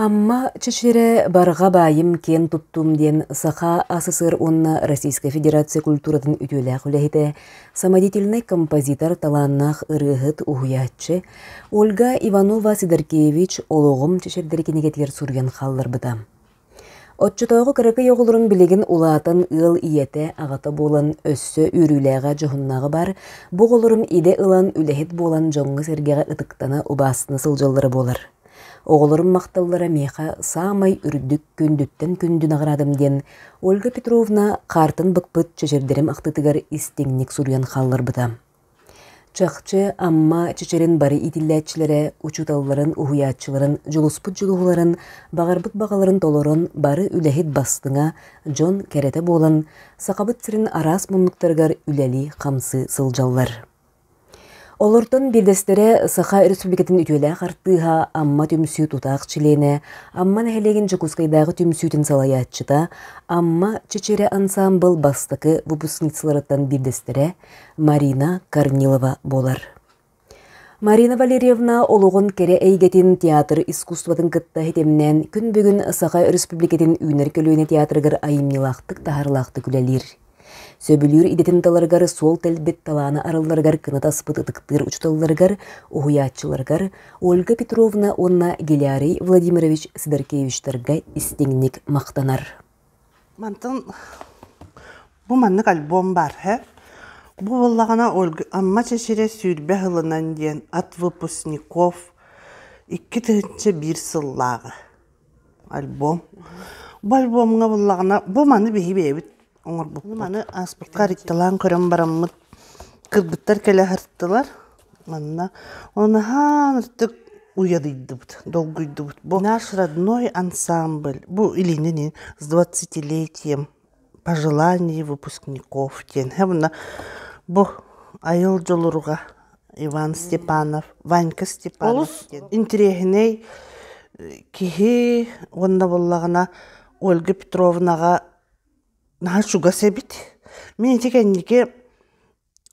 Амма Чэчирэ барҕа баайым киэн туттум диэн Саха СССР уонна Российскай Федерация культуратын үтүөлээх үлэһитэ, самодятельнай композитор, талааннаах ырыаһыт, уһуйааччы Ольга Иванова-Сидоркевич олоҕум чэчирдэр кинигэтигэр суруйан хаалларбыта. Оччотооҕу кыракый оҕолорун билигин улаатан ыал ийэтэ, аҕата буолан өссө үөрүүлээҕэ, дьоһуннааҕа баар, бу оҕолорум идэ ылан, үлэһит буолан дьоҥҥо-сэргэҕэ ытыктана, убаастана сылдьаллара буолар. Оҕолорум махталлара миэхэ саамай үрдүк күндүттэн күндү наҕараадам диэн Ольга Петровна хаартан быкпыт чэчирдэрим ахтыытыгар истиҥник суруйан хаалларбыта. Чахчы, Амма чэчирин бары иитиллээччилэрэ учууталларын, уһуйааччыларын дьулуспут дьулуһууларын, баҕарбыт баҕаларын толорон, бары үлэһит бастыҥа, дьон кэрэтэ буолан, Сахабыт сирин араас муннуктарыгар үлэлии-хамсыы сылдьаллар. Олортон биирдэстэрэ Саха Өрөспүүбүлүкэтин үтүөлээх артыыһа, Амма түмсүү тутаах чилиэнэ, Амма нэһилиэгин Дьокуускайдааҕы түмсүүтүн салайааччыта, Амма чэчирэ ансаамбыл бастакы выпускницаларыттан биирдэстэрэ Марина Корнилова буолар. Марина Валерьевна олоҕун кэрэ эйгэтин театр искусствотын кытта хитимнээн күн бүгүн Саха Өрөспүүбүлүкэтин үүнэр көлүөнэ театрыгар айымньылаахтык таһаарылаахтык үлэлиир. Сөбүлүүр идэтин таларыгар суол тэлбит талааны арылларыгар кынат аспыт ытыктыыр учууталларыгар, уһуйааччыларыгар Ольга Петровна уонна Гелярий Владимирович Сидоркевичтарга истиҥник махтанар. Мантан бу маннык альбом баар ээ. Бу буоллаҕына Амма чэчирэ сүүрбэ сылынан диэн от выпускников икки тыһыынча биир сыллааҕы альбом. Бу альбомҥа буоллаҕына бу маны биһи бэйэбит оҥорбуппут. Маны ааспыкка арыйталаан көрөн бараммыт кыргыттар кэлэ сырыттылар. Манна онаһаан ытык уйадыйдыбыт, долгуйдубут. Бу наш родной ансамбль. Бу илиинин с двадцатилетием пожеланий выпускников диэн. Хабына бу айыл дьолуруга Иван Степанов, Ванька Степанов Олус диэн интириэһинэй киһи уонна буллаҕына Ольга Петровнаҕа наһаа чугас эбит. Мин ити кэнники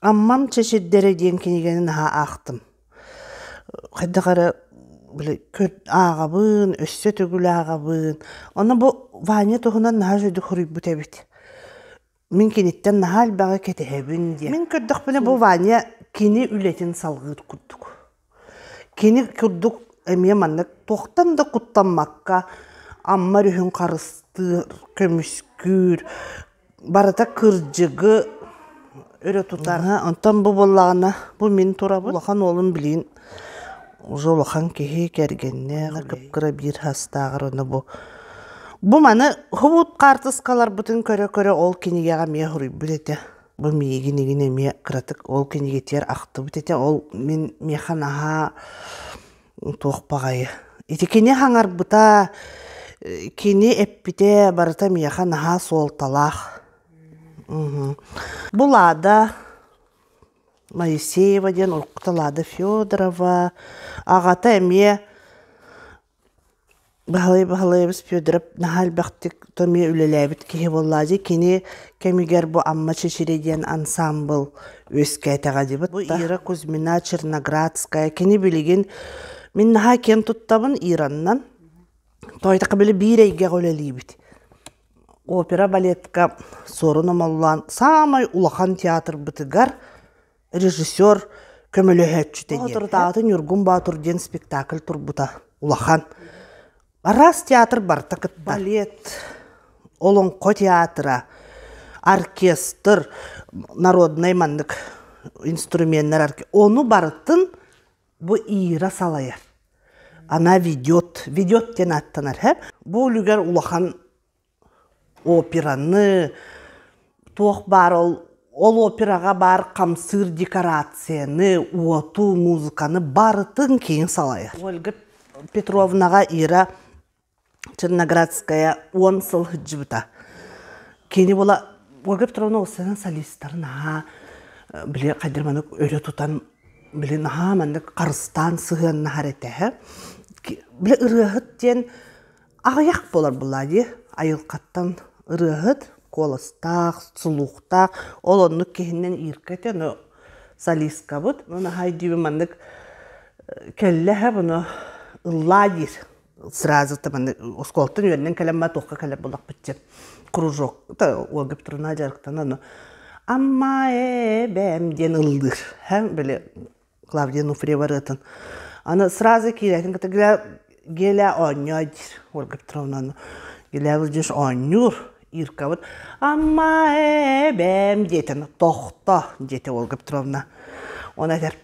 Аммам чэ сирдэрэ диэн кинигэни наһаа аахтым. Хайдах эрэ били ааҕабын, өссө төгүл ааҕабын. Онно бу Ваня туһунан наһаа үчүгэй хоруйбут эбит. Мин киниттэн наһаа элбэҕи кэтэһэбин диэн. Мин көрдөхпүнэ бу Ваня кини үлэтин салҕыыр курдук. Кини курдук эмиэ маннык туохтан да куттаммакка Амма өрүһүн харыстыыр, көмүскүүр, барыта кырдьыгы өрө тутар. Аха, онтон бу буоллаҕына бу мин турабын. Улахан уолум билигин уже улахан киһи, кэргэннээх, кып-кыра биир саастааҕар ону бу бу маны хобут хаартыскаларбытын көрө-көрө ол кинигэҕэ эмиэ суруйбут этэ. Бу миигин игин эмиэ кыратык ол кинигэтигэр ахтыбыт этэ. Ол мин миэхэ наһаа туох баҕайы. Ити кини хаҥарбыта, кини эппитэ барыта миэхэ наһаа суолталаах. Бу Лада Моисеева диэн уруккута Лада Федорова, аҕата эмиэ Баһылай Баһылайабыс Федоров наһаа элбэхтик то эмиэ үлэлээбит киһи буоллаҕа дии кини кэмигэр бу Амма Чэчирий диэн ансаамбыл үөскээтэҕэ дии бу Ира Кузьмина Черноградская кини билигин мин наһаа киэн туттабын Ираннан тоойдоххо били биир эйгэҕэ үлэлиибит опера балетка Суорун Омоллоон саамай улахан театрбытыгар режиссер, көмөлөһөөччүтэ диэн. Соторутааҕыта Ньургун Боотур диэн спектакль турбута улахан. Араас театр барыта кытта. Балет, олоҥхо театра, оркестр, народнай маннык инструменнар, ону барытын бу Ира салайар. Она ведет, ведет диэн ааттанар. Бу үлүгэр улахан операны туох баар ол ол операҕа баар хамсыыр декорацияны уоту музыканы барытын кейін салайар ольга петровнаҕа ира черноградская уон сыл сылдьыбыта кини була ольга петровна ол сэрэнэн солисттары наһаа били хайдах маннык өрө тутан били наһаа маннык харыстаан сыһыаннаһар этэ били ырыаһыт диэн Аҕыйах буолар буллаа дии айылҕаттан ырыаһыт, куоластаах, сулуухтаах, ол оннук киһинэн Ирка этэ, ону солисткабыт, ну наһаа өйдүүбүн маннык кэллэ иһэ bunu ыллаа диир сразу та маннык оскуолаттан үөрэнэн кэлэн маа туохха кэлэр буоллахпытча кружок та Ольга Петровна дьарыктанан ама эбэм диэн ыллыыр һэ били Клавдия Нуфриева ырыатын. Аны сразу киирэтин кытта Геля оонньоо диир Ольга Петровнаны. Геля Владимирович оонньуур Иркабыт Амма эбэм диэтин тохто диэтэ Ольга Петровна. Он этэр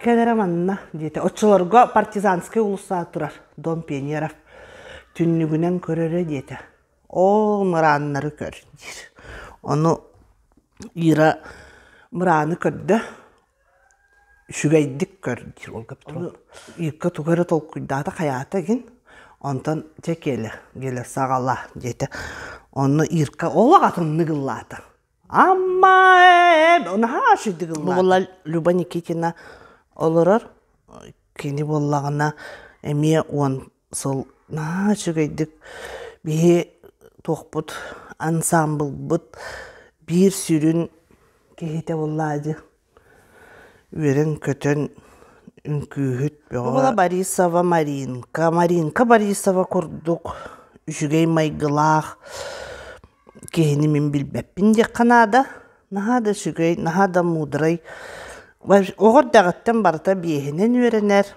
кэлэрэ манна диэтэ. Оччолорго партизанскай улуса турар Дом пионеров. Түннүгүнэн көрөрө диэтэ. Ол мырааннары көр диир. Ону Ира мырааны көрдө. үчүгэйдик көр диир ол ону Ирка тугу эрэ толкуйдаата хайаата игин онтон чэ киэлэ киэлэ саҕала диэтэ онно Ирка олох атыннык ыллаата Амма ээ наһаа үчүгэй ыллаата бу буолла Люба Никитина олорор кини буоллаҕына эмиэ уон сыл наһаа үчүгэйдик биһи туохпут ансаамбылбыт биир сүрүн киһитэ буоллаҕа дии үөрэн-көтөн үҥкүүһүт бөҕө Борисова Маринка Маринка Борисова курдук үчүгэй майгылаах киһини мин билбэппин диэххэ наада наһаа да үчүгэй наһаа да муударай оҕо эрдэҕиттэн барыта биэһинэн үөрэнэр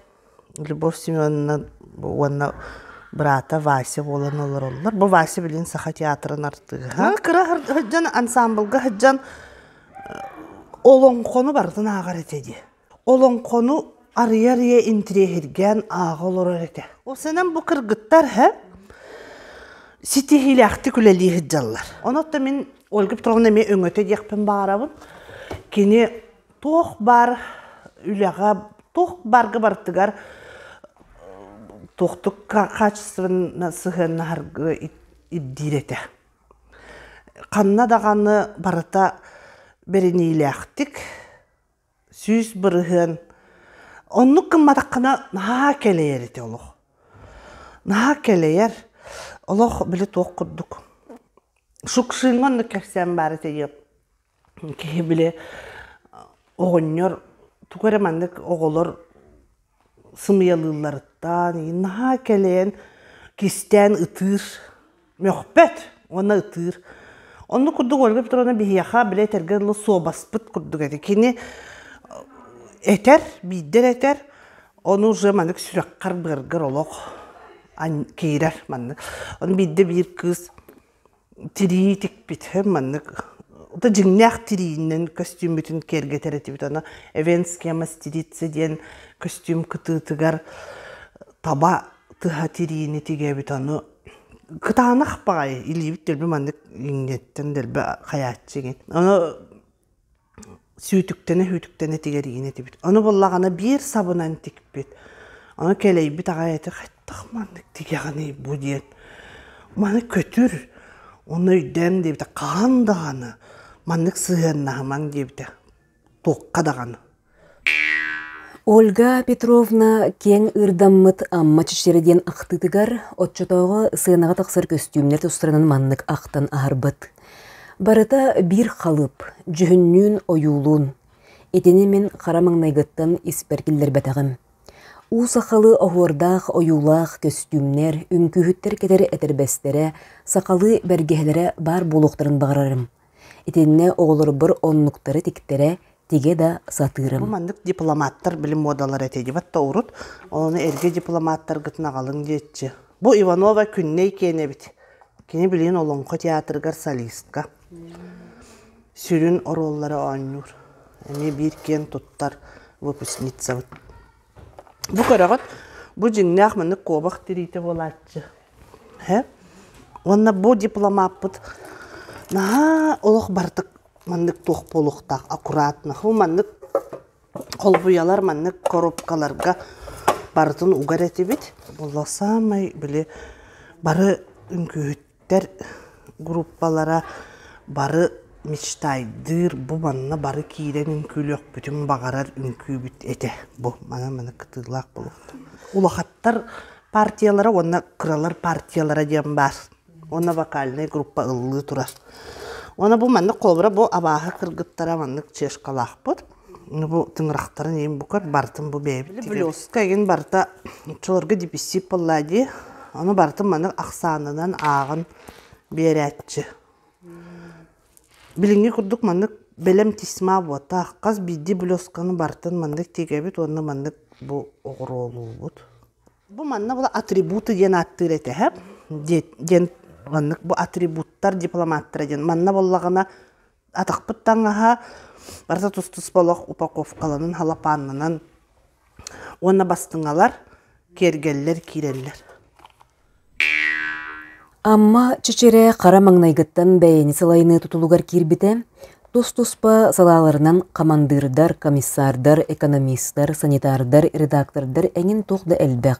Любовь Семеновна уонна быраата Вася буолан олороллор. Бу Вася билигин Саха театрын артыыһа. Кыра сылдьан ансаамбылга сылдьан олоҥхону барытын ааҕар этэ дии. Олоҥхону арыйа-арыйа интириэһиргээн ааҕа олорор этэ. Ол санан бу кыргыттар һэ ситиһиилээхтик үлэлии сылдьаллар. Ону оттон мин Ольга Петровна эмиэ өҥөтө диэхпин баҕарабын. Кини туох баар үлэҕэ, туох баарга барытыгар туохтук качественно сыһыаннаһарга ирдиир этэ. Ханна даҕаны барыта бэриниилээхтик, сүүс бырыһыан, оннук гымматаххына наһаа кэлэйэр этэ олох. Наһаа кэлэйэр, олох били туох курдук. Шукшиҥҥа оннук кэпсээн баар этэ Киһи били оҕонньор тугу эрэ маннык оҕолор сымыйалыылларыттан иһин наһаа кэлэйэн кистээн ытыыр, мөхпөт уонна ытыыр. Оннук курдук Ольга Петровна биһиэхэ били этэргэ дылы суобаспыт курдук этэ. Кини этэр, биирдэ да этэр, ону уже маннык сүрэххэр-быаргар олох киирэр маннык. Ону биирдэ биир кыыс тирии тикпитим маннык да дьиҥнээх тириинэн көстүүммүтүн киэргэтэр этибит аны эвенская мастерица диэн көстүүм кытыытыгар таба тыһа тириини тигээбит аны кытаанах баҕайы илиибит дэлби маннык иҥниэттэн дэлби хайааччы игин аны сүүтүктэнэ-сүүтүктэнэ тигэриин этибит. Ону буллаҕына биир сабынан тикпит. Ону кэлэйбит аҕай этэ, «Хайдах маннык тигэҕиний бу?» диэн. «Маны көтүр, ону өйдөөн» диэбитэ. «Хаһан даҕаны маннык сыһыаннаһымаҥ» диэбитэ. «Туохха даҕаны». Ольга Петровна киэҥ ырдаммыт Амма Чичиэрэ диэн ахтыытыгар оччотооҕу сыанаҕа тахсар көстүүмнэр тустарынан маннык ахтан аһарбыт. Барыта биир халыып, дьүһүннүүн-ойуулуун. Итини мин хара маҥнайгыттан испэр киллэрбэтэҕим. У сахалы оһуордаах ойуулаах көстүүмнэр, үҥкүүһүттэр кэтэр этэрбэстэрэ, сахалыы бэргэһэлэрэ баар буолуохтарын баҕарарым. Итиннэ оҕолорбор оннуктары тиктэрэ тигэ да сатыырым. Бу маннык дипломаттар били муодалара этэ диват да урут. Ону эргэ дипломаттаргытын аҕалыҥ диэччи. Бу Иванова Күннэй киэн эбит. Кини билигин Олоҥхо театрыгар солистка. Сүрүн оруоллары оонньуур. Эмиэ биир киэн туттар выпускницабыт. Бу көрөҕүт, бу дьиҥнээх маннык куобах тириитэ буолааччы. Һэ? Уонна бу диплом ааппыт наһаа олох барытык маннык туох буолуохтаах аккуратно. Бу маннык холбуйалар маннык коробкаларга барытын угар этибит. Буолла саамай били бары үҥкүүһүт Эдэр группалара бары мечтайдыыр, бу манна бары киирэн үҥкүүлүөхпүтүн баҕарар үҥкүүбүт этэ бу. Маны-маны кытыылаах буолуохтун. Улахаттар партиялара уонна кыралар партиялара диэн баар. Уонна вокальнай группа ыллыы турар. Уонна бу маннык холобура бу абааһы кыргыттара маннык чешкалаахпыт. бу тыҥырахтарын ийин букат бартын бу бэйэбит тигибиккэ игин барта чулорго диписсип болла дии ону бартын манык ахсаанынан ааҕын биэрээччи билиҥҥи курдук маннык бэлэм тисма буотаах хас биирдии блёсканы бартын маннык тигэбит уонна маннык бу оҕуруолуубут бу манна була атрибуты диэн ааттыыр этэ һэп диэн маннык бу атрибуттар дипломаттара диэн манна боллагына Атахпыт таҥаһа барыта тус-туспа олох упаковкаланан, халапааннанан уонна бастыҥалар, киэргэллэр киирэллэр. Амма Чэчирэ хара маҥнайгыттан бэйэни сылайыныы тутулугар киирбитэ, тус-туспа салааларынан хамандыырдар, комиссардар, экономистар, санитардар, редактордар эҥин туох да элбэх,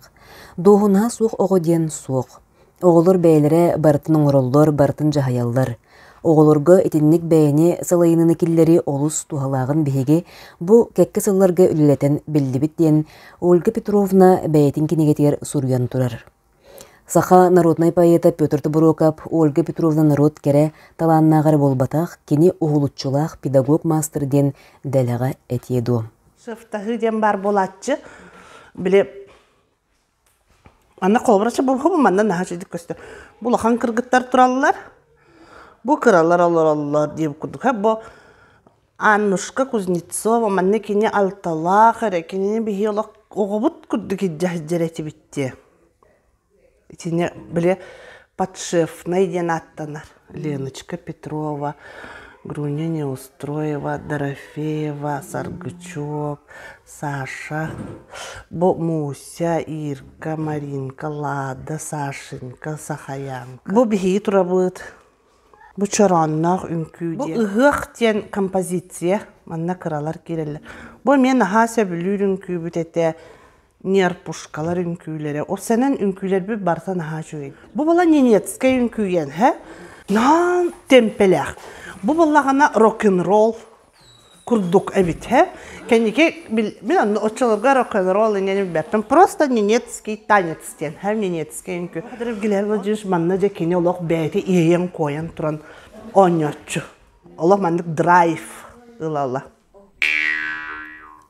дуоһунаа суох оҕо диэн суох. Оҕолор бэйэлэрэ барытын оҥороллор, барытын дьаһайаллар. Оҕолорго итинник бэйэни салайыныыны киллэрии олус туһалааҕын биһиги бу кэккэ сылларга үлэлэтэн биллибит диэн Ольга Петровна бэйэтин кинигэтигэр суруйан турар. Саха народнай поэта Петр Тобуруокап Ольга Петровна норуот кэрэ талааннааҕа эрэ буолбатах, кини уһулуччулаах педагог-маастар диэн дэлэҕэ этиэ дуо? Сыфтаһыы диэн баар буолааччы. Били Манна холобурача булуһум манна наһаа үчүгэй көстөр. Бу улахан кыргыттар тураллар, бу кыралар олороллор диир курдук. Һэ бу Аннушка Кузнецова манна кини алталаах эрэ, кинини биһиги олох оҕобут курдук илдьэ сылдьар этибит дии. Итини били подшефнай диэн ааттанар. леночка петрова груня неустроева дорофеева саргычев саша муся ирка маринка лада сашенька сахаянка бу биһиги турабыт бу чороонноох үҥкүү бу ыһыах диэн композиция манна кыралар киирэллэр бу эмиэ наһаа сөбүлүүр үҥкүүбүт этэ Нерпушкалар үҥкүүлэрэ. Ол сэнэн үҥкүүлэрбит барыта наһаа үчүгэй. Бу была ненецкай үҥкүйэн, һэ? Наан темпелээх. Бу былаҕана рок-н-ролл курдук эбит, һэ? Кэнники мин аны оччолорго рок-н-ролл инэн билбэппин. Просто ненецкий танец диэн, һэ? Ненецкай үҥкүү. Кадыров Гильермо Дьыш манна дьэ кини олох бэйэтэ иэйэн-куойан туран оонньооччу. Олох маннык драйв ыла-ыла.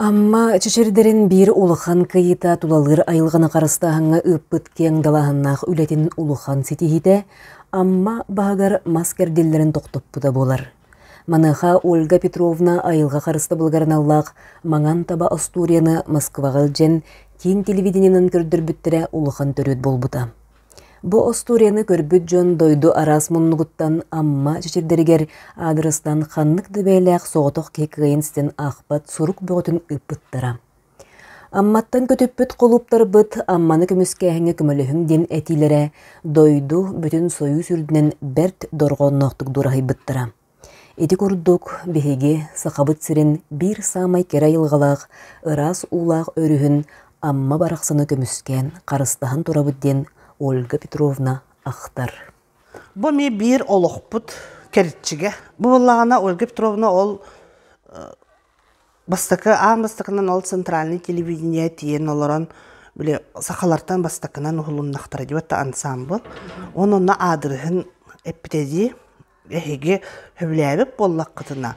Амма Чэчирдэрин биир улахан кыйыыта тулалыыр айылҕаны харыстааһыҥҥа ыыппыт киэҥ далааһыннаах үлэтин улахан ситиһиитэ Амма баһыгар мас кэрдиллэрин тохтоппута буолар. Маныаха Ольга Петровна айылҕа харыстабылыгар аналлаах Маҥан таба остуоруйаны Москваҕа илдьэн киин телевидениенэн көрдөрбүттэрэ улахан төрүөт буолбута. Бу остуоруйаны көрбүт дьон дойду араас муннугуттан Амма чэчирдэригэр аадырыстан ханнык да бэйэлээх соҕотох киһи кыайан ситэн аахпат сурук бөҕөтүн ыыппыттара. Амматтан көтүппүт кулууптарбыт Амманы көмүскээһиҥҥэ көмөлөһүҥ диэн этиилэрэ дойду бүтүн Союз үрдүнэн бэрт дорҕоонноохтук дураһыйбыттара. Ити курдук, биһиги Сахабыт сирин биир саамай кэрэ айылҕалаах, ыраас уулаах өрүһүн Амма барахсаны көмүскээн харыстаһан турабыт диэн Ольга Петровна ахтар. Бу эмиэ биир олохпут кэрчигэ. Бу буоллаҕына Ольга Петровна ол бастакы аан бастакынан ол центральнай телевидение тиийэн олорон били сахалартан бастакынан уһулуннахтара дии антаамбыл. Он онно аадырыһын эппитэ дии Эһиги сөбүлээбит буоллаххытына,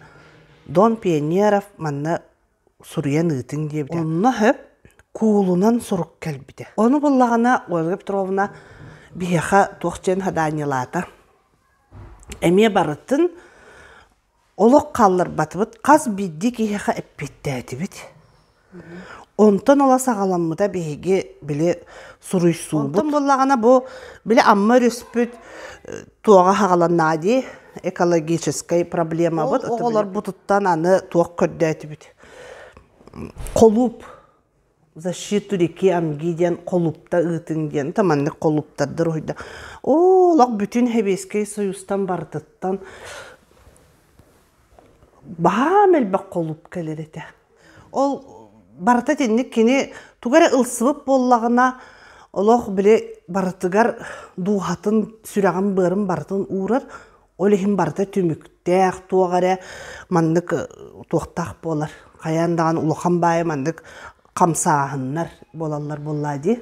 Дон Пионеров манна суруйан ыытыҥ диэбитэ. Онно сөп куулунан сурук кэлбитэ. Ону буллаҕына Ольга Петровна биһиэхэ туох диэн хадаанньылаата. Эмиэ барытын олох хаалларбатыбыт, хас биирдии киһиэхэ эппиэттээтибит. Онтон ыла саҕаламмыта биһиги били суруйсуубут. Онтон буоллаҕына бу били Амма өрүспүт туоҕа хаҕаланна дии экологическай проблемабыт. Оҕолорбутуттан аны туох көрдөөтүбүт. Холууп защиту реки Амги диэн холуупта ыытыҥ диэн та маннык холууптардар уһуйда. Оо олох бүтүн Сэбиэскэй Союзтан барытыттан баһаам элбэх холууп кэлэр этэ. Ол барыта итинник кини тугу эрэ ылсыбыт буоллаҕына олох били барытыгар дууһатын, сүрэҕин-быарын барытын уурар. Ол иһин барыта түмүктээх, туох эрэ маннык туохтаах буолар, хайаан даҕаны улахан баайы маннык хамсааһыннар буолаллар буоллаа дии.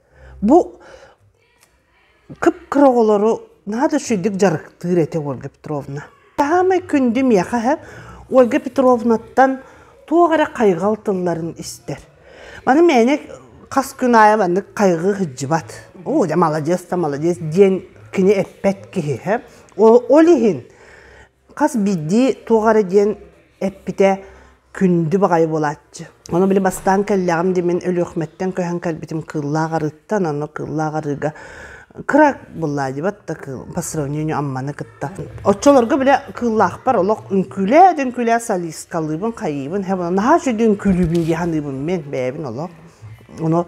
Бу кып-кыра оҕолору наһаа да үчүгэйдик дьарыктыыр этэ Ольга Петровна. Саамай күндү миэхэ иһэ Ольга Петровнаттан туох эрэ хайҕал тылларын истэр. Аны мээнэ хас күн аайы маннык хайҕыы сылдьыбат. Оо, дьэ маладьыас да маладьыас диэн кини эппэт киһи иһэ. Ол, ол иһин Хас биирдии туох эрэ диэн эппитэ күндү баҕайы буолааччы. Ону били бастаан кэллэҕим дии мин Өлүөхүмэттэн көһөн кэлбитим кыыллаах арыыттан, ону кыыллаах арыыга кыра буллаадьыбат да кыыл по сравнению Амманы кытта. Оччолорго били кыыллаахпар олох үҥкүүлээ-дүҥкүүлээ солисткалыыбын, хайыыбын, һэб наһаа үчүгэй үҥкүүлүүбүн дии саныыбын мин бэйэбин олох. Ону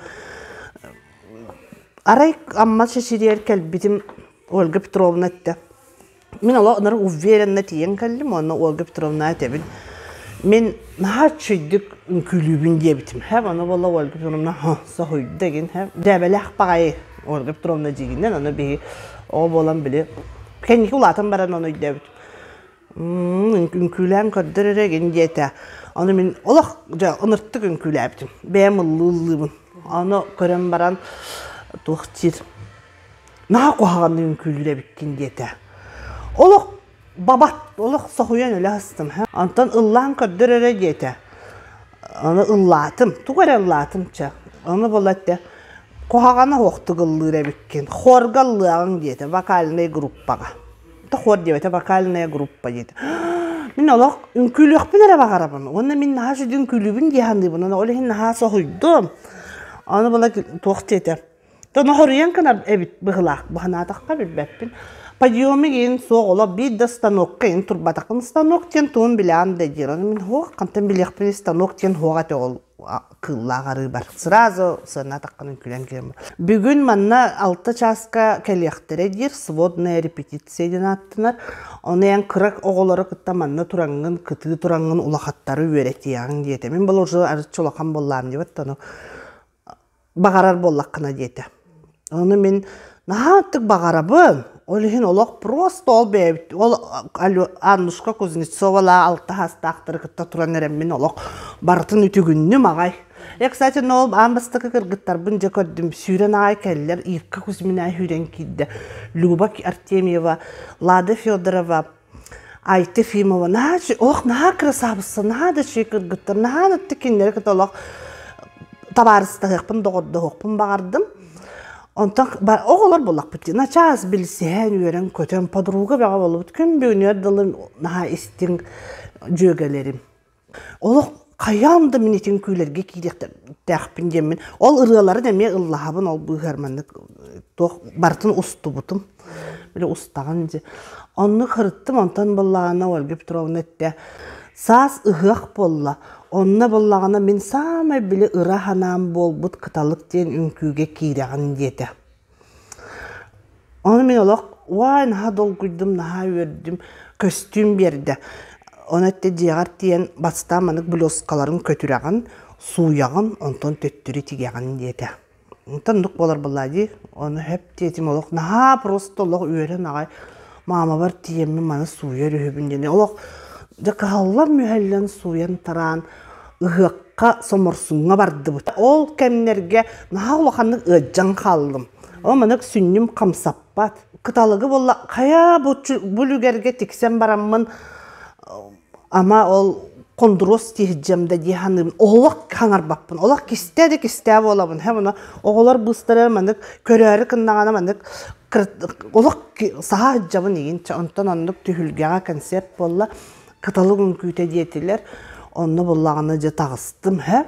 арай Амма Чэчириэр кэлбитим Ольга Петровна этэ Мин олох онор уверенно тиийэн кэллим уонна Ольга Петровна этэбин мин наһаа үччүйдүк үҥкүүлүүбүн диэбитим һэ аны буолла Ольга Петровна соһуйда игин һэ дьээбэлээх баҕайы Ольга Петровна дьигинэн аны биһи ол буолан били кэнники улаатан баран ону өйдөөбүт үҥкүүлээн көрдөр эрэ игин диэтэ аны мин олох дьэ ыныртык үҥкүүлээбитим бэйэм ыллыыллыыбын аны көрөн баран туох диир наһаа куһаҕаннык үҥкүүлүүрэбиккин диэтэ олох бабат олох соһуйан өлө астым онтон ыллаан көрдөр эрэ диэтэ аны ыллаатым тугу эрэ ыллаатым чэ аны була этэ куһаҕана уохтук ыллыыр эбиккин хорга ыллыаҕыҥ диэтэ вокальнай группаҕа то хор диэбэтэ вокальная группа диэтэ мин олох үҥкүүлүөхпүн эрэ баҕарабын уонна мин наһаа сүдү үҥкүүлүүбүн дии саныыбын ол иһин наһаа соһуйдум аны була туох диэтэ Тоноһоруйан кынар эбит быһылаах быһанаатахха билбэппин. Подъемы иин суох олох биир да станокка иин турбатахын станок диэн тугун билээн да диирэн мин хуох хантан билиэхпин станок диэн хуох этэ ол кыллаах арыыбар сразу сыанатаххын күлэн киирэн бүгүн манна алта чааска кэлиэхтэрэ диир сводная репетиция диэн ааттанар ону эн кырак оҕолору кытта манна тураҥҥын кытыы тураҥҥын улахаттары үөрэтиэҕиҥ диэтэ мин бұл уже арчы улахан боллаам диэбэт ону баҕарар буоллаххына диэтэ ону мин наһаа аттык баҕарабын ол иһин олох просто ол бэйэбит ол аннушка кузнецова-лаа алтаһаастаахтары кытта туран эрэн мин олох барытын үтүгүннүм аҕай я кстати но ол аан бастакы кыргыттарбын дьэ көрдүм сүүрэн аҕай кэллэр ирка кузьмина сүүрэн киирдэ люба артемьева лада федорова Айта Ефимова наһаа ох наһаа кырасаабысса наһаа да үчүгэй кыргыттар наһаа да кинилэри кытта олох табаарыстаһыахпын доҕордоһуохпун баҕардым онтон оҕолор буоллахпыт дии начаас билсиһэн үөрэн көтөн подруга бөҕө буолбут күн бүгүнүгэр дылы наһаа истиҥ дьүөгэлэрим олох хайаан да мин итин күлэргэ киириэхтээхпин диэммин ол ырыаларын эмиэ ыллаһабын ол быыһыгар маннык туох барытын устубутум били устаҕын дии онну кырыттым онтон быллаҕана ольга петровна эттэ саас ыһыах буолла онно быллаҕана мин саамай били ыра санаам буолбут кыталык диэн үҥкүүгэ киирэҕин диэтэ Ону мин олох «Уай, наһаа долгуйдум, наһаа үөрдүм» көстүүм биэрдэ. Ону эттэ дьиэҕэр тиийэн бастаан маннык блюзкаларын көтүрэҕин, сууйаҕын, онтон төттөрү тигэҕин диэтэ. Онтон оннук буолар буоллаа дии. Ону эһэм диэтим олох наһаа просто олох үөрэн аҕай маамабар тиийэммин маны сууйар үһүбүн диэни олох дьэ кыһаллан мүһэллэн сууйан тараан ыһыахха соморсуҥҥа бардыбыт ол кэмнэргэ наһаа улаханнык ыадьдьан хааллым ол манык сүнньүм хамсаппат кыталыгы буолла хайа бу үлүгэргэ тиксэн бараммын ама ол хондуруос тиһдьэм да дии саныыбын олох хаҥарбаппын олох кистээ да кистээ буолабын һэ муну оҕолор быыстара маннык көрөөрү кыннаҕана маннык олох саһа сыдьабын игин онтон оннук түһүлгэҕэ концерт буолла кыталык үҥкүүтэ диэтилэр онно буллаҕына дьэ таҕыстым һэ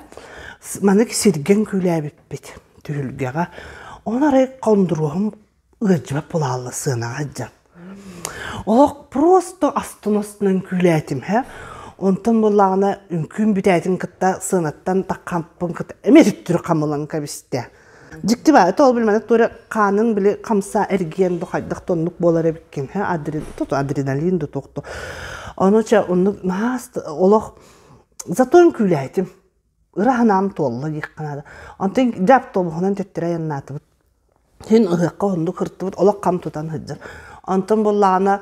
манык сиргэн күлээбиппит түһүлгэҕэ оны арай хондуруоһум Ыалдьыбат булаалла сыанаҕа иһдьэм. Олох просто астына-астына үҥкүүлээтим һэ. Онтон буоллаҕына үҥкүүм бүтээтин кытта сыанаттан такхампын кытта эмиэ төттөрү хамылан кэбистэ. Дьикти баайата ол билмэдэ туора хаанын били хамсаа эргийэн да хайдах да оннук буолар эбиккин һэ адре тото адреналин да туох да. Ону чэ оннук наһаа олох зато үҥкүүлээтим. ыра санаам туолла диэххэ наада. Онтон дьэ автобуһунан төттөрү айаннаатыбыт. Син ыһыахха оннук сырыттыбыт, олох хам тутан сылдьар. Онтон буоллаҕына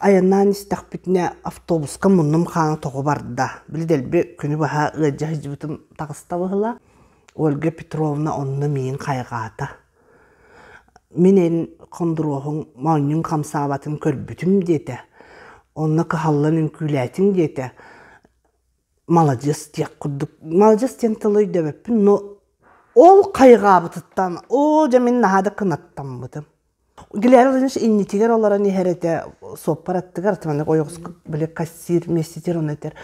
айаннаан истэхпитинэ автобуска муннум хаана тоҕо барда. Били дэлби күнү быһа ыалдьа сылдьыбытым таҕыста быһыыла. Ольга Петровна онно миигин хайҕаата. Мин эн хондуруоһуҥ моонньун хамсаабатын көрбүтүм диэтэ. Онно кыһаллан үҥкүүлээтиҥ диэтэ. маладьыас диэх курдук маладьыас диэн тылы өйдөөбөппүн но ол хайҕаабытыттан оо дьэ мин наһаа да кынаттаммытым глера владимирович иннитигэр олорон иһэр этэ суоппар аттыгар ата маннык ойоҕоско били кассир вместитель ону этэр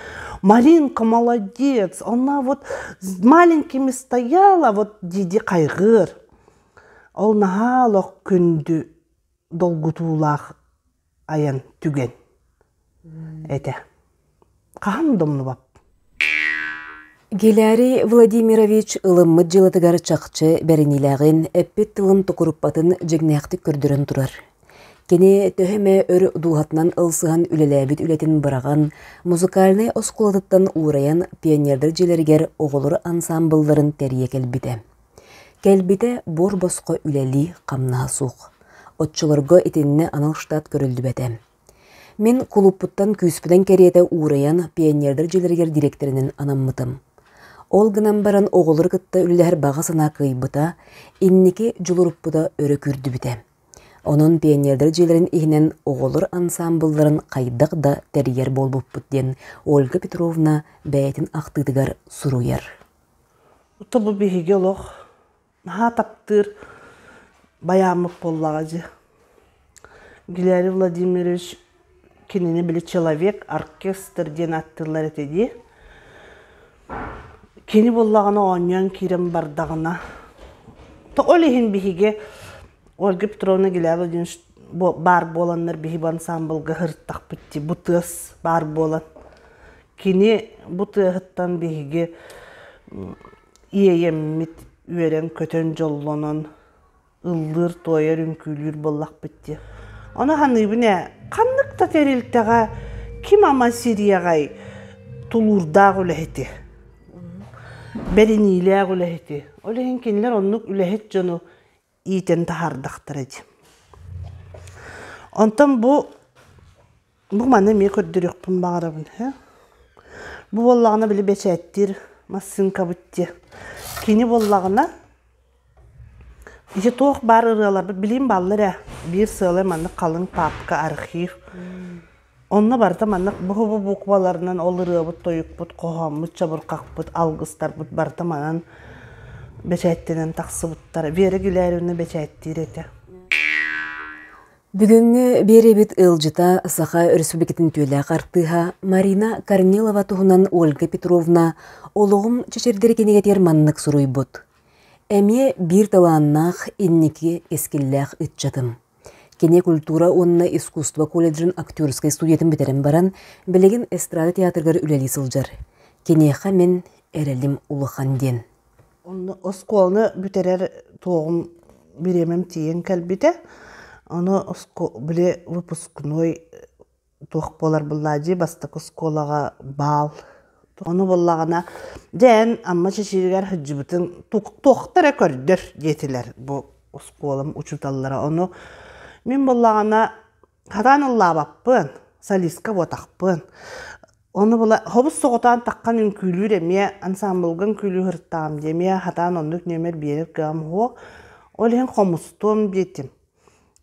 маринка молодец она вот с маленькими стояла вот дии-дии хайҕыыр ол наһаа олох күндү долгутуулаах айан түгэн этэ хаһан да умнубат Гиларий Владимирович ылыммыт дьыалатыгар чахчы бэриниилээҕин, эппит тылын тукуруппатын дьиҥнээхтик көрдөрөн турар. Кини төһө эмэ өр дууһатынан ылсыһан үлэлээбит үлэтин быраҕан, музыкальнай оскуолатыттан уурайан пионердар дьиэлэригэр оҕолор ансаамбылларын тэрийэ кэлбитэ. Кэлбитэ буор-босхо үлэлии, хамнаһа суох. Оччолорго итиннэ анал штат көрүллүбэтэ. Мин кулууппуттан күүспүтэн кэриэтэ уурайан пионердар дьиэлэригэр дириэктэринэн анаммытым. Ол гынан баран оҕолору кытта үлэлэһэр баҕа санаа кыайбыта, инники дьулуруппута өрө күүрдүбүтэ. Онон пионердар дьиэлэрин иһинэн оҕолор ансаамбылларын хайдах да тэрийэр буолбуппут диэн Ольга Петровна бэйэтин ахтыытыгар суруйар. Ото-бу биһиги олох наһаа таптыыр байааммыт буоллаҕа дии. Валерий Владимирович кинини били «Человек», «Оркестр» диэн ааттыыллар этэ дии. Кини буоллаҕына оонньоон киирэн бардаҕына то ол иһин биһиги Ольга Петровна Гиляй Владимирович баар буоланнар биһиги бу ансаамбылга сырыттахпыт дии, бу тыас баар буолан Кини бу тыаһыттан биһиги иэйэммит үөрэн-көтөн дьоллонон ыллыыр-туойар, үҥкүүлүүр буоллахпыт дии. Ону саныыбын ээ, ханнык да тэрилтэҕэ ким ама сириэҕэй тулуурдаах үлэһити, бэриниилээх үлэһити, ол иһин кинилэр оннук үлэһит дьону иитэн таһаардахтара дии. Онтон бу бу маны эмиэ көрдөрүөхпүн баҕарабын үһү. Бу буоллаҕына били бэчээттиир массыынкабыт диэ. Кини буоллаҕына ити туох баар ырыаларбыт билим бааллар ээ. Биир сыалай маннык халыҥ паапка архив Онно барыта маннык бу-бу букваларынан ол ырыабыт-тойукпут, хоһооммут, чабырҕахпыт, алгыстарбыт барыта манан бэчээттэнэн тахсыбыттара. Вера Гүлариевна бэчээттиир этэ. Бүгүҥҥү биэрэбит ыалдьыта, Саха Өрөспүүбүлүкэтин түүлээх артыыһа Марина Корнилова туһунан Ольга Петровна олоҕум чэчирдэрэ кинигэтигэр маннык суруйбут. Эмиэ биир талааннаах, инники искиллээх ыччатым. Кини культура уонна искусство колледжын актерскай студиятын бүтэрэн баран, билигин эстрада театрыгар үлэлии сылдьар. Киниэхэ мин эрэлим улахан диэн. Онно оскуоланы бүтэрэр туоҕум бириэмэм тиийэн кэлбитэ. Аны оскуо- били выпускной туох буолар буллаадьыы бастакы оскуолаҕа баал ону буллаҕына дьэ эн Амма Чэчиригэр сылдьыбытыҥ туохта эрэ көрдөр диэтилэр бу оскуолам учууталлара ону мин буллаҕына хатаан ыллаабаппын солистка буотахпын ону була хобус соҕотоон таххан үҥкүүлүүр эмиэ ансаамбылга үҥкүүлүү сырыттаҕым дии эмиэ хатаан оннук нүөмэр биэрэр кыаҕым суох ол иһин хомустуом диэтим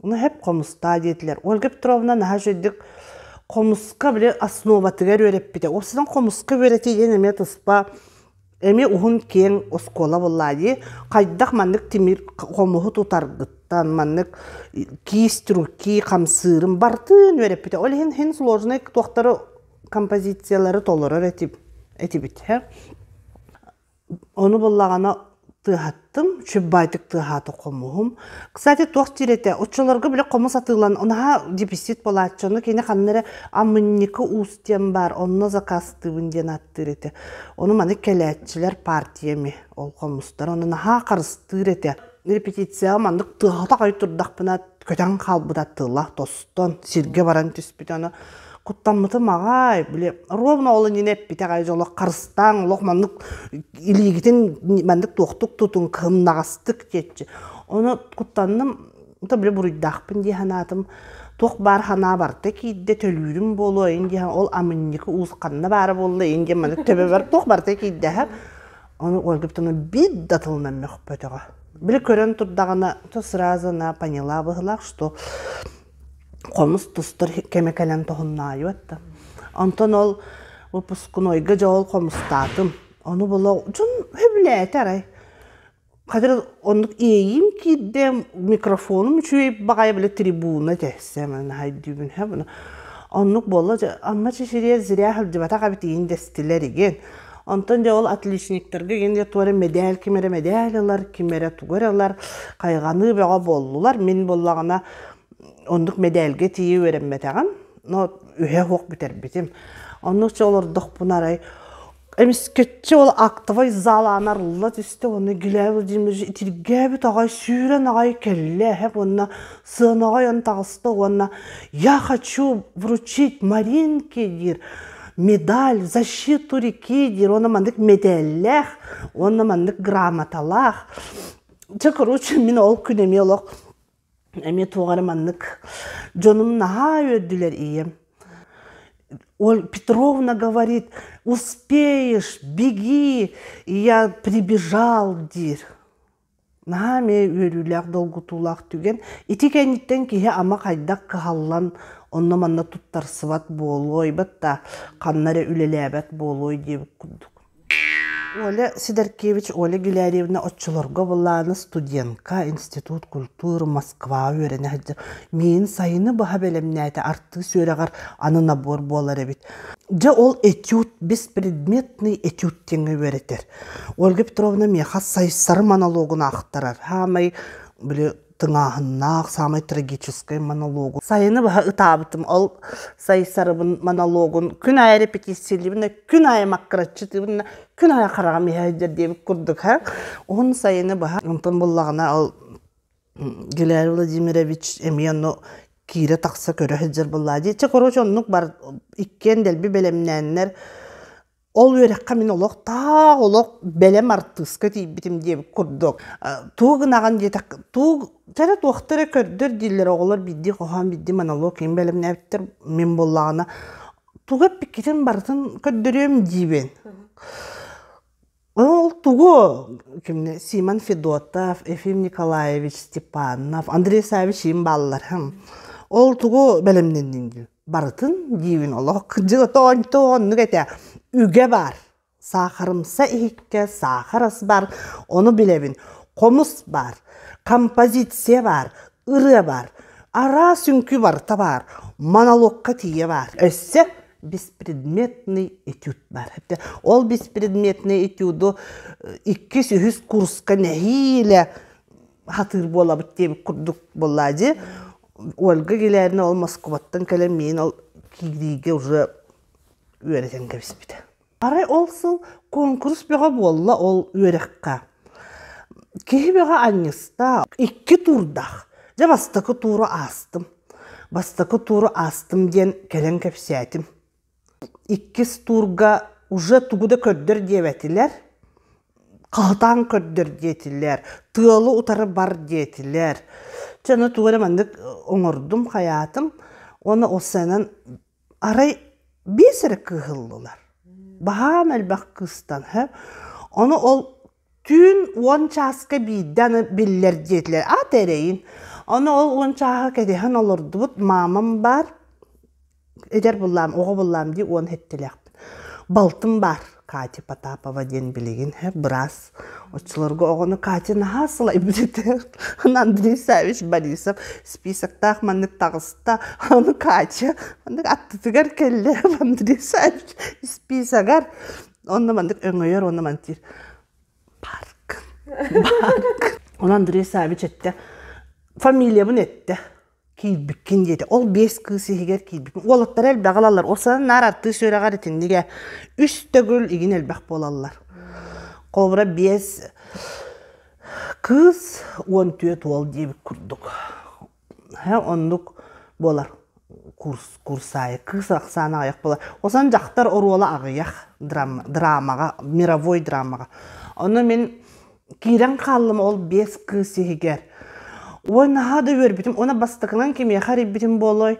Наһып хомуста диэтилэр. Ольга Петровна наһаа үчүгэйдик хомуска били основатыгар үөрэппитэ. Ол сынан хомуска үөрэтии диэн эмиэ туспа эмиэ уһун киэҥ оскуола буоллаа дии. Хайдах маннык тимир хомуһу тутаргыттан маннык киис трюки, хамсыырын барытын үөрэппитэ. Ол иһин иһин сложнай туохтары композициялары толорор этибит, этибит Ону буллаҕына тыаһаттым, чупбаайтык тыаһаата хомуһум. Кстати, туох диир этэ, оччолорго били хомус атыылаан, наһаа дьиписит буолааччы, ону кини ханна эрэ амынньыка уус диэн баар, онно закастыыбын диэн ааттыыр этэ. Ону маны кэлээччилэр партия ими, ол хомустар, ону наһаа харыстыыр этэ. репетицияҕа маннык тыаһата хой турдахпына көтөн хаалбыта тыла тостон сиргэ баран түспүтэ аны куттаммытым аҕай били ровно ол иннинэ эппитэх айыз олох харыстааҥ олох маннык илиигитин маннык туохтук тутуҥ кымнаҕастык диэччи ону куттанным то били буруйдаахпын дии санаатым туох баар санаа барта киирдэ төлүүрүм буолуо ин диэн ол амынньыгы уусханна баара буолла ин диэн маны төбөбөр туох барта киирдэһэр Ону Ольгуптуну бит да тылынан мөхпөтөҕө. Били көрөн турдаҕына, то сразу она поняла быһылаах, что хомус тустар кеме кэлэн тоһуннаайыт да. Онтон ол выпускнойга же ол хомустаатым. Ону була дьон хөбүлээтэ арай. Хатыр оннук иэйим киирдэ микрофонум үчүгэй баҕайы биле трибуна тессе мен хайдүүбүн хэ bunu. Оннук болла анна чичириэ зря хылдьыбатах абитиин дестилер иген. Онтон дьэ ол отличниктарга инде туора медаль ким эрэ медаль ылар, ким эрэ тугу эрэ ылар, хайҕаныы бөҕө буоллулар. Мин буоллаҕына оннук медальга тиийэ үөрэммэтэҕим. Но үһэ уох бүтэрбитим. Онно чэ олордохпуна арай эмискэччи ол актовай заалаан арылла түстэ уонна Гиляй Владимирович итиргээбит аҕай сүүрэн аҕай кэллэ эһэп уонна сыанаҕай он таҕыста уонна «Я хочу вручить Маринке» диир медаль, защиту реки, диир уонна маннык медаллаах, уонна маннык грамоталаах. Чэ, короче, мин ол күн эмиэ олох эмиэ туох эрэ маннык дьонум наһаа үөрдүлэр ийэм. Оль Петровна говорит, успеешь, беги, и я прибежал, диир. наһаа эмиэ үөрүүлээх долгутуулаах түгэн ити кэнниттэн киһи ама хайдах кыһаллан онно манна туттарсыбат буолуой батта ханна эрэ үлэлээбэт буолуой диэбит курдук оля сидоркевич оля гиларьевна оччолорго былаана студентка институт культур москваҕа үөрэнэ сылдьар миин сайыны баһа бэлэмнээтэ артыыс үөрэҕэр аны набор буолар эбит дьэ ол этюд беспредметный этюд диэҥҥэ үөрэтэр Ольга Петровна миэхэ Сайсары монологун аахтарар. Саамай били тыҥааһыннаах, саамай трагическай монологу. Сайыны баһа ытаабытым. Ол Сайсарыбын монологун күн аайы репетициялыыбын да, күн аайы маккараччытыыбын да, күн аайы хараҕым иһээдэр диэбит курдук һэ. Уһун сайыны баһа онтон буллаҕына ол Гилари Владимирович эмиэ ону киирэ-тахса көрө сылдьар буоллаа дии. Чэ, короче, оннук бар иккиэн дэлби бэлэмнээннэр Ол үөрэххэ мин олох таах олох бэлэм артыыска тиийбитим диэбит курдук, тугу гынаҕын диэтэх тугу кэрэ туохта эрэ көрдөр дииллэр оҕолор биирдии хоһоон биирдии монолог иһин бэлэмнээбиттэр мин буоллаҕына тугу эппиккитин барытын көрдөрүөм диибин. Ол тугу кимнэр Симон Федотов, Ефим Николаевич Степанов, Андрей Саввич иһин бааллар. Ол тугу бэлэмнэнниҥ дии? барытын диибин олох дьотоончо оннук этэ үгэ баар саахарымса иһиккэ саахар ас баар ону билэбин хомус баар композиция баар ырыа баар араас үҥкүү барыта баар монологка тиийэ баар өссө беспредметный этюд баар этэ ол беспредметный этюду иккис үһүс курска нэһиилэ сатыыр буолабыт диэбит курдук буоллаа дии Ольга Гилевна ол Москубаттан кэлэн миин ол киириигэ уже үөрэтэн кэбиспитэ. Арай ол сыл куонкурус бөҕө буолла ол үөрэххэ. Киһи бөҕө анньыста, икки туурдаах. Дьэ бастакы тууру аастым. Бастакы тууру аастым диэн кэлэн кэпсээтим. иккис туурга уже тугу да көрдөр диэбэтилэр хаһытаан көрдөр диэтилэр тыалы утары бар диэтилэр чэ аны тугу эрэ маннык оҥордум хайаатым уонна ол сыанан арай биэс эрэ кыыһыллылар баһаам элбэх кыыстан һэ ону ол түүн уон чааска биирдэ аны биллэр диэтилэр аата эрэйин ону ол уон чааһы кэтэһэн олордубут маамам баар эдэр буллаам оҕо буллаам дии уон эттилээхпин балтым баар катя потапова диэн билигин һэ быраас оччолорго оҕону катя наһаа сылайбыт этэ андрей савич борисов списоктаах маннык таҕыста ону катя маннык аттытыгар кэллэ андрей савич списогар Онно маннык өҥөйөр, онно мантиир. Парк. Парк. Оны Андрей Савич этте. Фамилиябын этте. Киирбиккин диэти. Ол бес кыыс иһигэр киирбиккин. Уолаттар элбэх алаллар. Ол санан наар артыы сүөрэҕэр итиннигэ үс төгүл игин элбэх буолаллар. Холбура бес кыыс 14 уол диэбит курдук. оннук буолар курсаайы кыыс ахсаана аҕыйах буолар осан дьахтар оруола аҕыйах драмаҕа мировой драмаҕа ону мин киирэн хааллым ол биэс кыыс иһигэр ой наһаа да үөрбүтүм уонна бастакынан кимиэхэ эрийбитим буолуой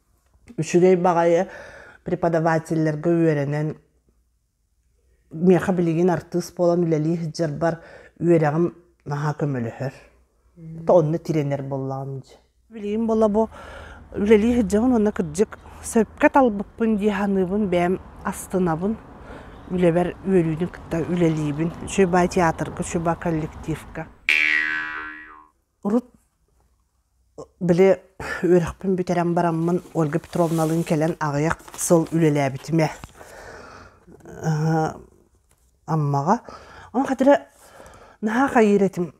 үчүгэй баҕайы преподавателлэргэ үөрэнэн миэхэ билигин артыыс буолан үлэлии сылдьарбар үөрэҕим наһаа көмөлөһөр то онно тирэнэр буоллаҕым дии билигин буола бу үлэлии сылдьабын уонна кырдьык сөпкө талбыппын дии саныыбын бэйэм астынабын үлэбэр үөрүүнү кытта үлэлиибин учеба театрга учеба коллективка Урут били үөрэхпин бүтэрэн бараммын Ольга Петровналыын кэлэн аҕыйах сыл үлэлээбитим ээ. Аммаҕа. Ону хатыра наһаа хайыыр этим.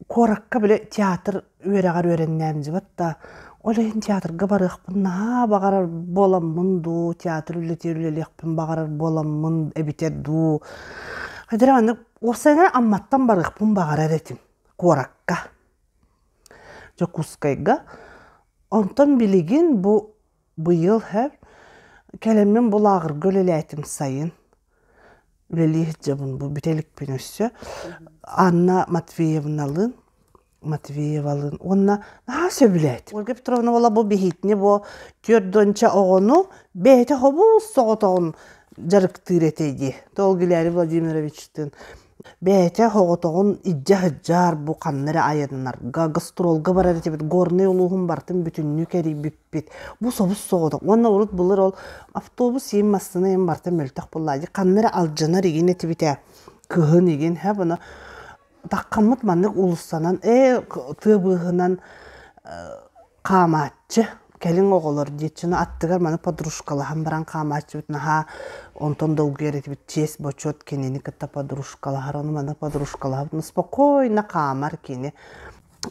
Куоракка били театр үөрэҕэр үөрэннээн дьыбыт да ол иһин театрга барыахпын наһаа баҕарар буоламмын дуу, театр үлэтигэр үлэлиэхпин баҕарар буоламмын эбитэр дуу. Хатыра маннык Уопсайынан Амматтан барыахпын баҕарар этим куоракка. Дьокуускайга. Онтон билигин бу быйыл һэ кэлэммин бу лааҕырга үлэлээтим сайын. Үлэлии сылдьабын бу бүтэ иликпин өссө. Анна Матвеевналыын Матвеевалыын уонна наһаа сөбүлээт. Ольга Петровна уола бу биһиитини бу түөрт дуонча оҕону бэйэтэ хобуус соҕотоҕун дьарыктыыр этэ дии. Ол Гилярий Владимировичтыын бэйэтэ соҕотоҕун илдьэ сылдьар бу ханна эрэ айаннарга, гастролга барар этибит. Горнай улууһун бартын бүтүннүү кэрийбиппит. Бу собус соҕотох. Уонна урут былыр ол автобус иин массыына иин бартын мөлтөх буоллаа дии. Ханна эрэ алдьанар игин этибитэ. Кыһын игин. Һэ буна Таххаммыт маннык уулуссанан ээ тыа быыһынан хаамааччы кэлиҥ оҕолор диэччинэ аттыгар маны подружкалаһан баран хаамааччыбыт наһаа онтон долгуйар этибит чиэс бочуот кинини кытта подружкалаһар ону маны подружкалаһабыт ну спокойно хаамар кини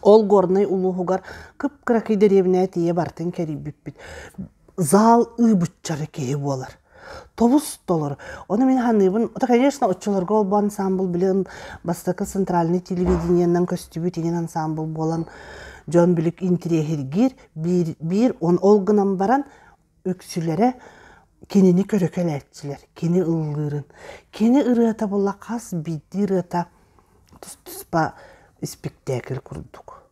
Ол Горнай улууһугар кып-кыракый дэриэбинэ тиийэ барытын кэрийбиппит. Зал ыы быччара киһи буолар. Тобус-толор. Ону мин саныыбын. Это, конечно, оччолорго олбу ансаамбыл билигин бастакы центральный телевидениеннан көстүбүт иҥин ансаамбыл буолан дьон билик интириэһиргиир. Биир, биир он ол гынан баран үксүлэрэ кинини көрө кэлээччилэр кини ыллыырын кини ырыата була хас биирдии ырыата тус туспа испиктээкил курдук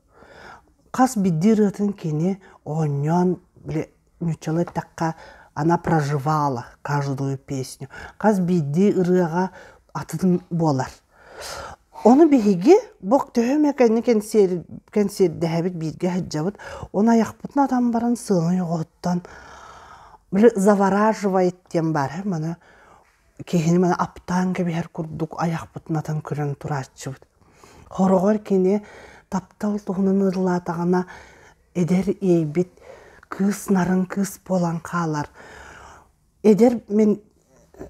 хас биирдии ырыатын кини оонньоон били нууччалыы эттэххэ она проживала каждую песню хас биирдии ырыаҕа атын буолар Ону биһиги бу төһө эмэ кэнни кэнсиэри кэнсиэрдэһэбит бииргэ сылдьабыт он айахпытын атан баран сыанай оҕоһуттан били завораживает диэн баар үһү маны киһини маны аптаан кэбиһэр курдук айахпытын атан көрөн турааччыбыт хороҕор кини таптал туһунан ырылаатаҕына эдэр иэйбит кыыс нарын кыыс буолан хаалар Эдэр мин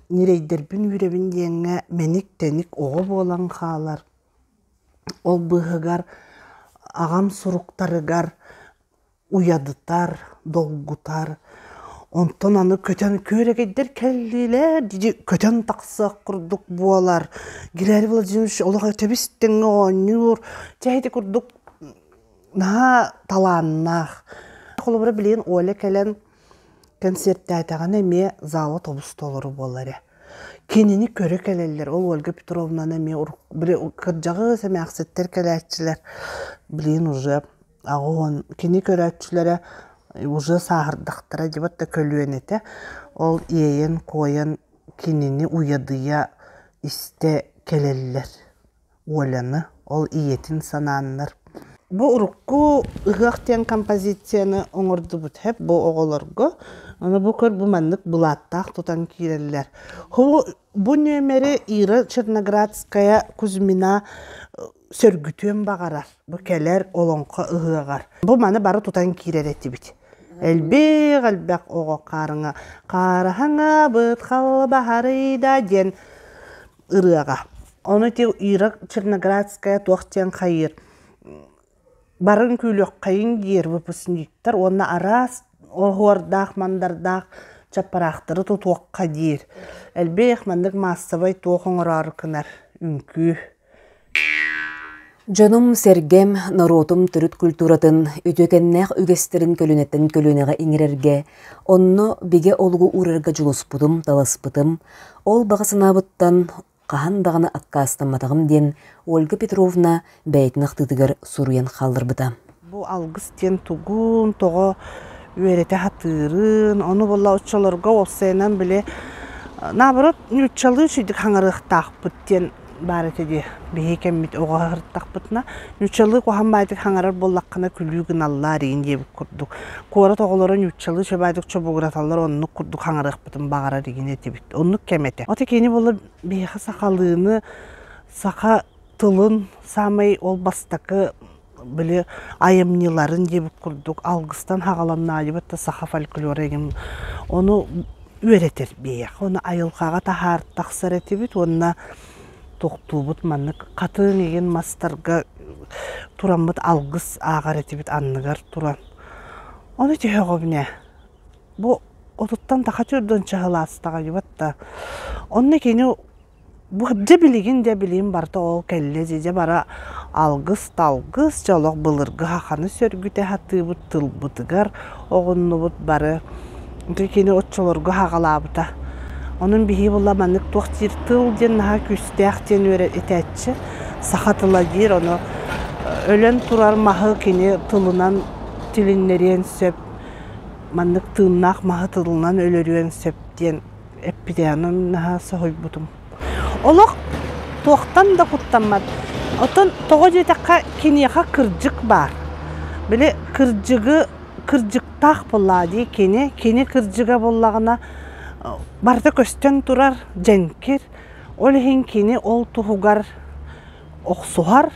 ньирэйдэрбин үүрэбин диэҥҥэ мэник-тэник оҕо буолан хаалар. Ол быыһыгар аҕам суруктарыгар уйадытар, долгутар. Онтон аны көтөн күөрэгэйдэр кэллилэр дии көтөн тахсыах курдук буолар. Геннадий Владимирович олох этэбис-тэҥҥэ оонньуур. Чэ ити курдук наһаа талааннаах. Холобура билигин Оля кэлэн Кэнсиэртээтэҕинэ эмиэ зала тобустолоро буолла эрэ. Кинини көрө кэлэллэр. Ол Ольга Петровнаны эмиэ урут били кырдьаҕас эмээхситтэр кэлээччилэр блин уже аҕон кини көрөөччүлэрэ уже сааһырдахтара дьыбыт да көлүөн этэ. Ол иэйэн куойан кинини уйадыйа истэ кэлэллэр Оляны, ол ийэтин санааннар. Бу урукку ыһыах диэн композицияны оҥордубут бу оҕолорго. Аны бу көр бу маннык былааттаах тутан киирэллэр. Бу нүөмэри Ира Черноградская Кузьмина сөргүтүөн баҕарар. Бу кэлэр Олоҥхо ыһыаҕар. Бу маны бары тутан киирэр этибит. Элбэх элбэх оҕо хаарыҥа хаараһаҥабыт халбаһарыйда диэн ырыаҕа. Ону ити Ира Черноградская туох диэн хайыыр барын күлүөххэйин диир выпускниктар уонна араас оһуордаах, мандардаах чаппараахтары тутуохха диир. Элбэх маннык маассабай туох оҥороору кынар үҥкүү Дьонум-сэргэм, норуотум төрүт культуратын, үтүөкэннээх үгэстэрин көлүөнэттэн көлүөнэҕэ иҥэрэргэ, онно бигэ олугу уурарга дьулуспутум, таласпытым. Ол баҕа санаабыттан хаһан даҕаны аккаастамматаҕым диэн Ольга Петровна бэйэтин ахтыытыгар суруйан хаалларбыта. Бу алгыс диэн тугун, тоҕо үөрэтэ сатыырын, ону була оччолорго уопсайынан били наоборот нууччалыы сүдүк хаҥарыахтаахпыт диэн баар этэ дии. Биһиги кэммит оҕо сырыттахпытына нууччалыы куһан баайдык хаҥарар буоллаххына күлүү гыналлаа эрэйин диэбит курдук. Куорат оҕолоро нууччалыы чөбөөдүк чобугураталлар оннук курдук хаҥарыахпытын баҕарар игин этибит. Оннук кэм этэ. Ото кини була биһиэхэ сахалыыны, саха тылын саамай ол бастакы били айымньыларын диэбит курдук алгыстан хагаланнаайыбыт да саха фольклора игин ону үөрэтэр биһиэхэ ону айылҕаҕа таһаары тахсар этибит уонна тохтуубут маннык хатыҥ игин мастарга тураммыт алгыс ааҕар этибит анныгар туран ону түһөҕүбүнэ бу отуттан таха чурдун чаһылаастаҕайбыт да онно кини Дьэ билигин дьэ билигин барыта ол кэллэ дии дьэ бара алгыс-талгыс дьэ олох былыргы хаханы сөргүтэ сатыыбыт тылбытыгар оҕуннубут бары ити кини оччолорго хаҕалаабыта онон биһиги була маннык туох диир тыл диэн наһаа күүстээх диэн үөрэ этээччи саха тыла диир ону өлөн турар маһы кини тылынан тилиннэриэн сөп маннык тыыннаах маһы тылынан өлөрүөн сөп диэн эппитээҕин наһаа соһуйбутум. Олох туохтан да куттаммат. Оттон тоҕо диэтэххэ, киниэхэ кырдьык баар. Били кырдьыгы кырдьыктаах буллаа дии кини. Кини кырдьыга буллаҕына барыта көстөн турар, дьэҥкир. Ол иһин кини ол туһугар охсуһар,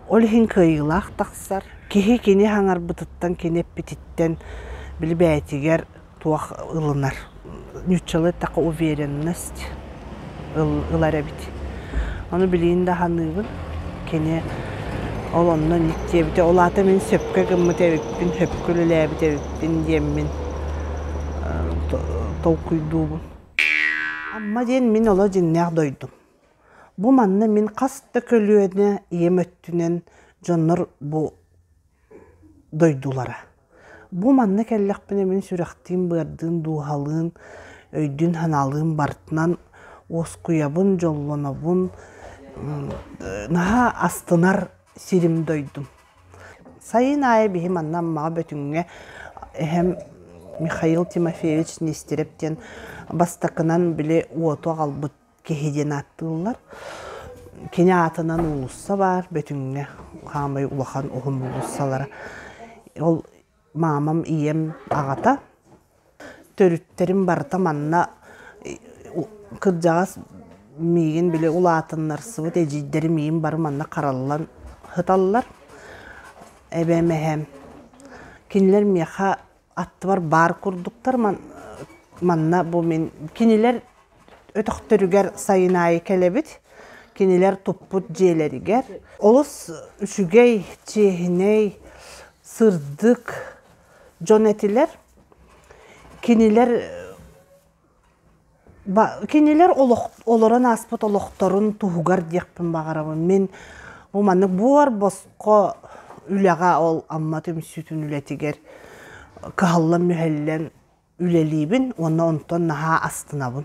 ол иһин кыайыылаах тахсар. Киһи кини хаҥарбытыттан, кини эппититтэн били бэйэтигэр туох ылынар. Ньуччалыы эттэххэ уверенность ылар эбит. Ону билигин да саныыбын. Кини ол онно ник диэбитэ, ол аата мин сөпкө гыммыт эбиппин, сөпкө үлэлээбит эбиппин диэммин толкуйдуубун. Амма диэн мин оло дьиннээх дойдум. Бу манна мин хас да көлүөнэ ийэм өттүнэн дьоннор бу дойдулара. Бу манна кэллэхпинэ мин сүрэхтиин-быардыын дууһалыын, өйдүүн-санаалыын барытынан уоскуйабын, дьоллонобун, наһаа астынар сирим-дойдум. Сайын аайы биһи манна Аммаҕа Бөтүҥҥэ эһэм Михаил Тимофеевич Нестеров диэн бастакынан били уоту аҕалбыт киһи диэн ааттыыллар. Кини аатынан уулусса баар, Бөтүҥҥэ хаамай улахан уһун уулуссалара. Ол маамам, ийэм аҕата. Төрүттэрим барыта манна кырдьаҕас миигин били улаатыннарсыбыт эдьиийдэрим миигин бары манна хараллан һыталлар. Эбэм, эһэм. Кинилэр миэхэ аттыбар баар курдуктар манна бу мин кинилэр өтөхтөрүгэр сайын аайы кэлэбит кинилэр туппут дьиэлэригэр олус үчүгэй чиэһинэй сырдык дьон этилэр кинилэр Кинилэр олорон ааспыт олохторун туһугар диэхпин баҕарабын. Мин бу маннык буор босхо үлэҕэ ол Амма түмсүүтүн үлэтигэр кыһаллан-мүһэллэн үлэлиибин уонна онтон наһаа астынабын.